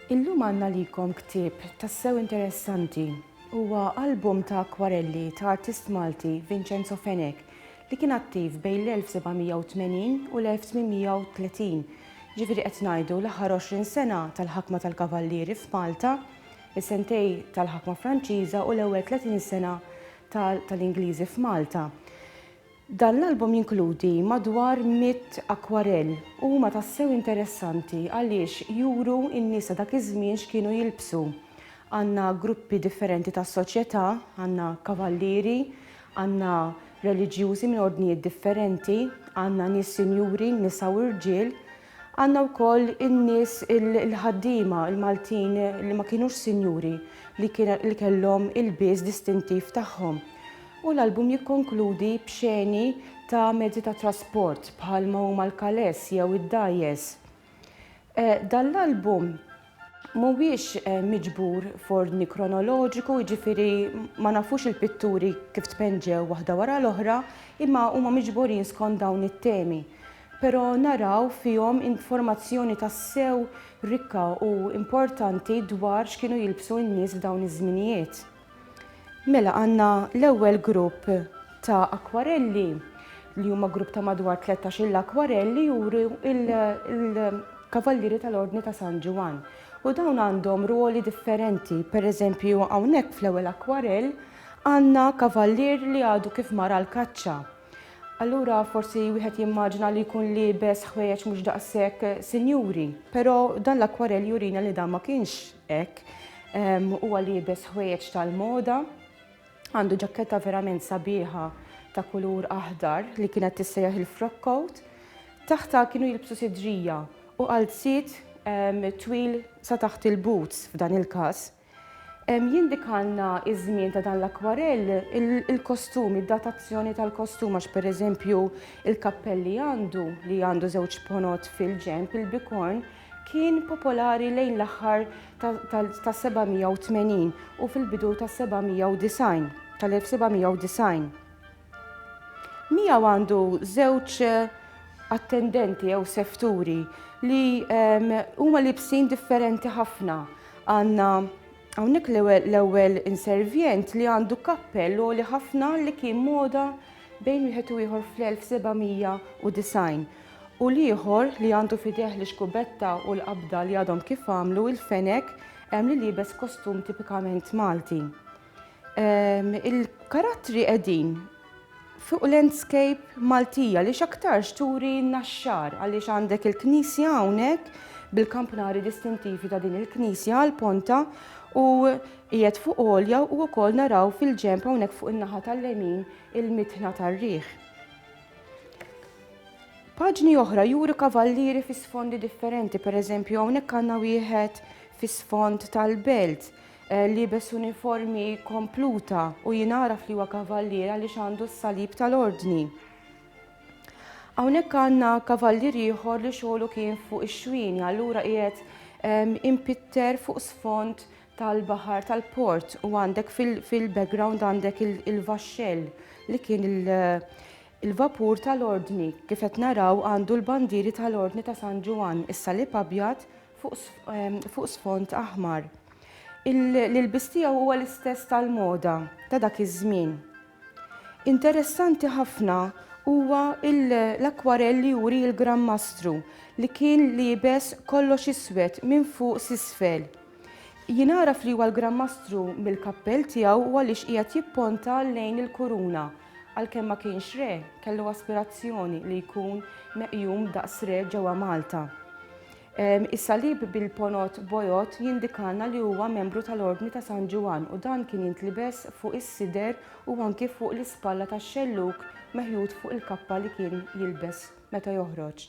Illum għandna likom ktieb tassew interessanti. Huwa album ta' akwarelli ta' artist Malti Vincenzo Fenek li kien attiv bejn l-1780 u l-1830. Ġifieri qed ngħidu l-aħħar 20 sena tal-ħakma tal-Kavallieri f'Malta Is-sentej tal-ħakma Franċiża u l-ewwel 30 sena tal-Ingliżi f'Malta. Dan l-album jinkludi madwar mitt akwarell u huma tassew interessanti għaliex juru n-nies ta' dak iż-żmien x'kienu jilbsu. Għandna gruppi differenti tas-soċjetà, għandna kavallieri, għandna reliġjużi minn ordnijiet differenti, għandna nies sinjuri, nisa u rġiel, Għandna wkoll in-nies il-ħaddiema l-Maltin li ma kinux sinjuri li li kellhom ilbies distintiv tagħhom. U l-album jikkonkludi b'xeni ta' mezzi ta' trasport bħalma huma l-kaless jew id-dgħajjes. Dan l-album Mhuwiex miġbur f'ordni kronoloġiku, jiġifieri ma nafux il-pitturi kif tpenġew waħda wara l-oħra, imma huma miġburin skont dawn it-temi. Però naraw fihom informazzjoni tassew rikka u importanti dwar x'kienu jilbsu n-nies f'dawn iż-żminijiet. Mela għandna l-ewwel grupp ta' akwarelli li huma grupp ta' madwar 13-il akwarelli juru il-Kavallieri tal-Ordni ta' San Ġwann. U dawn għandhom ruoli differenti. Per eżempju, hawnhekk fl-ewwel akwarell għandna kavallier li għadu kif mar għal kaċċa. Allura forsi wieħed jimmaġina li jkun liebes ħwejjeġ mhux daqshekk sinjuri, però dan l-akwarell jurina li dan ma kienx Hekk, huwa liebes ħwejjeġ tal-moda, għandu ġakketta verament sabiħa ta' kulur aħdar li kienet tissejjaħ il-frock coat, taħtha kienu jilbsu sidrija u qalziet twil sa taħt il-boots f'dan il-każ. Jindikalna iż-żmien ta' dan l-akwarell il-kostum, id-datazzjoni tal-kostum għax pereżempju il-kappell li għandu, li għandu żewġ ponot fil-ġenb, il-bikorn, Kien popolari lejn l-aħħar tas-780 u fil-bidu tas-790 tal-1790. Miegħu għandu żewġ attendenti jew sefturi li huma libsin differenti ħafna. Għandna hawnhekk l-ewwel inservjent li għandu kappell għoli ħafna li kien moda bejn wieħed u ieħor fl-1790. u l-ieħor li għandu f'idejh l-ixkubetta u l-qabda li għadhom kif għamlu il-fenek hemm li liebes kostum tipikament Malti. Ehm, il-karattri qegħdin fuq landscape Maltija li x'aktarx turi naxxar għaliex għandek il-knisja hawnhekk bil-kampnari distintivi ta' din il-knisja għal ponta u qiegħed fuq għolja u wkoll naraw fil-ġenb hawnhekk fuq in-naħa tal-lemin il-mitħna tar-riħ. Paġni oħra juru kavallieri fi sfondi differenti, per eżempju hawnhekk għandna wieħed fi sfond tal-belt eh, li bes uniformi kompluta u jinaraf li huwa kavallier għaliex għandu s-salib tal-ordni. Hawnhekk għandna kavallier ieħor li xogħlu kien fuq ix-xwini, allura qiegħed impitter fuq sfond tal-baħar tal-port u għandek fil-background għandek il-vaxxell li kien il-vapur tal-ordni kif qed naraw għandu l-bandieri tal-ordni ta' San Ġuwan is-salib abjad fuq sfond aħmar. Il-lbis tiegħu huwa l-istess tal-moda ta' dak iż-żmien. Interessanti ħafna huwa l-akwarell li juri l-Gran Mastru li kien liebes kollox iswed minn fuq s'isfel. Jien għaraf li huwa l-Gran Mastru mill-kappell tiegħu u għaliex qiegħed jipponta lejn il-kuruna. Għalkemm ma kienx re, kellu aspirazzjoni li jkun meqjum daqs re ġewwa Malta. Ehm, is-salib bil-ponot bojod jindikalna li huwa membru tal-Ordni ta' San Ġuwan u dan kien jintlibes fuq is-sider u anki fuq l-ispalla tax-xellug meħjud fuq il-kappa li kien jilbes. meta joħroġ.